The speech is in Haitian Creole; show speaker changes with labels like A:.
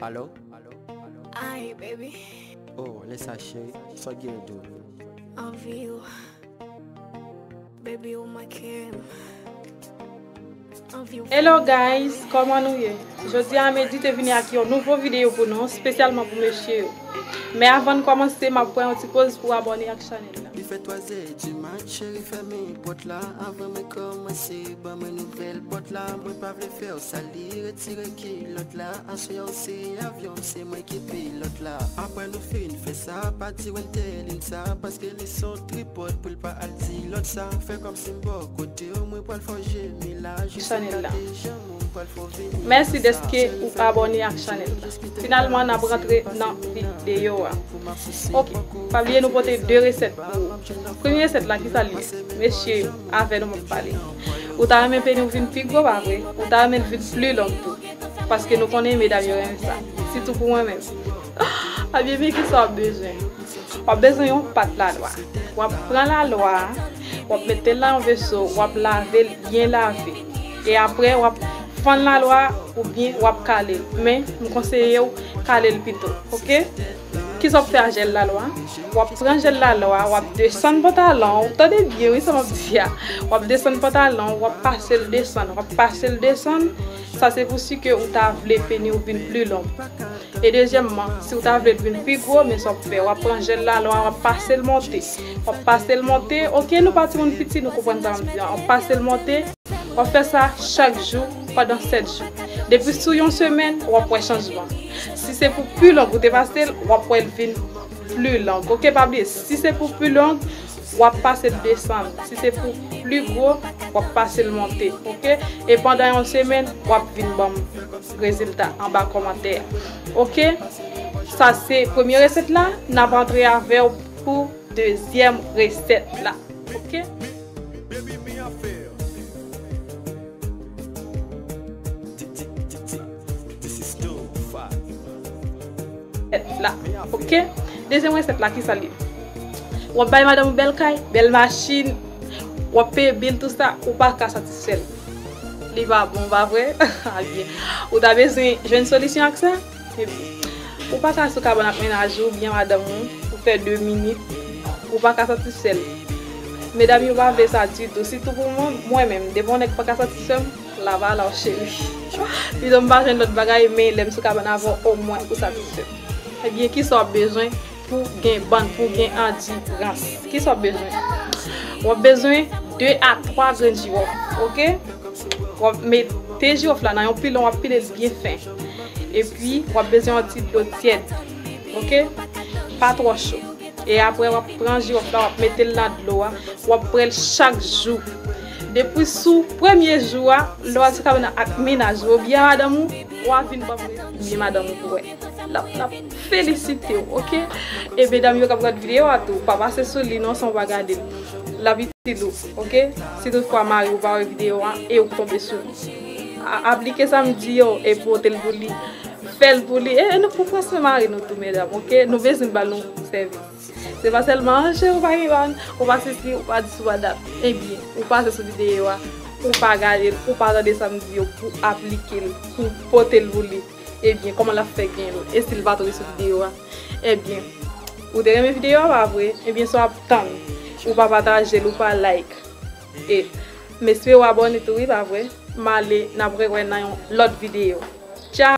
A: Alo?
B: Ay, baby, Oh, lè sa
A: cheri, sòt gen yon dou. anvi
B: yo. Baby, ou manke m. Anvi yo. Hello guys,
C: kòman nou ye? Jodi a Medi te vini ak yon nouvo videyo pou nou, spesyalman pou mesye yo. Men avan n kòmanse, m ap pran yon ti poz pou w abòne ak chanèl la. Li fè twa zè
A: di mat, cheri fèmen pòt la avan mwen kòmanse. Ban mwen nouvèl pòt la mwen pa vle fèw sal li retire kilòt la aswè a ou se avyon m se mwen ki pilòt la aprè nou fin fè sa pa di wentelin sa paske li son tripòt poul pa al di lòt sa fè kòmsi m bò kotew mwen pral fòw jemi la
C: jis ou gate janm ou m pral fòw vini nan sa jèn sa yo gen pou jèn yo esplike sa yo nan videyo a oh pa bliye nou pote 2 resèt pou ou premye resèt la kisa li ye mesye. Avè nou map pale. Ou ta renmen peni w vin pi gwo pa vre? Ou ta renmen l vin pli long tou? Paske nou konnen medam yo renmen sa. Sitou pou mwen menm. Abyen men kisa wap bezwen. Wap bezwen yon pat lalwa. Wap pran lalwa a, wap mete l nan yon veso, wap lave l byen lave. E aprè wap fann lalwa a oubyen wap kale l. Men m konseye w kale l pito. Ok. Kisa wap fè a jèl lalwa? Wap pran jèl lalwa, wap desann pantalon w, tande byen wi sa map di a, wap desann pantalon w, wap pase l desann, wap pase l desann, sa se pou si ke ou ta vle peni w vin pli long. E dezyèmman, si ou ta vle l vin pi gwo, men sa wap fè, wap pran jèl lalwa, wap pase l monte, wap pase l monte, ok nou pa timoun piti nou konprann sa map di an, wap pase l monte. Wap fè sa chak jou pandan 7 jou. Depi sou yon semèn wap wè chanjman. Si se pou pu long ou te pasel wap wèl vin plu long ok pa bliye si se pou pu long wap pasel desann si se pou plu gwo wap pasel monte ok e pandan yon semèn wap vin banm rezilta anba kòmantè a ok sa se premye resèt la nap antre avèw pou dezyèm resèt la ok. Baby mi affair. This is too far. Mi affair. Dezyèm resèt la kisa li? Wap bay madanm ou bèl kay, bèl machin, wap peye bil tout sa, ou pa ka satisfèl. Li pa bon pa vre? Ebyen ou ta bezwen jwenn solisyon ak sa? Ou pa ka sou kabann ak mennaj ou oubyen madanm ou pou fè 2 minit, ou pa ka satisfè l. Medam yo pa vle sa ditou, sitou pou mwen, mwen menm, depi yon nèg pa ka satisfè m, lavalaw cheri. Pito m pa jwenn lòt bagay, men lè m sou kabann avè w, omwen ou satisfè m. Ebyen, kisa w ap bezwen? Pou gen bann, pou gen andi rans, ki sa w ap bezwen? W ap bezwen 2 a 3 grenn jiwòf, ok? W ap mete jiwòf la nan yon pilon, w ap pile l byen fen. Epi, w ap bezwen yon ti dlo tyèd, ok? Pa twò cho. E apre, w ap pran jiwòf la, w ap mete l nan dlo a, w ap bwè l chak jou. Depi sou premye jou a, lè w al sou kabann nan ak mennaj ou oubyen madanm ou, wa vin ban m rezime madanm ou pou wè. lap lap felisitew ok e medam yo kap gad video a tou pa pase sou li non san ou pa gadel lap itil ou ok si tout fwa mariw pa wè video a e ou k tonbe sou li aplike sam di yo e potel pou li fèl pou li e nou k pou pran swen mari nou tou medam ok nou bezwen bal yon sèvis se pa sèlman an cheri ou pa gen bag ou pa sesi ou pa dis ou pa dat e byen ou pase sou video a ou pa gadel ou pa tande sam di yo pou aplikel pou potel pou li. Ebyen koman lap fè gen l e sil pa tonbe sou video a ebyen ou te renmen video a pa vre ebyen sa wap tann ou pa patajel ou pa like e m espere w abone tou wi pa vre m ale nap rewè nan yon lòt video tcha.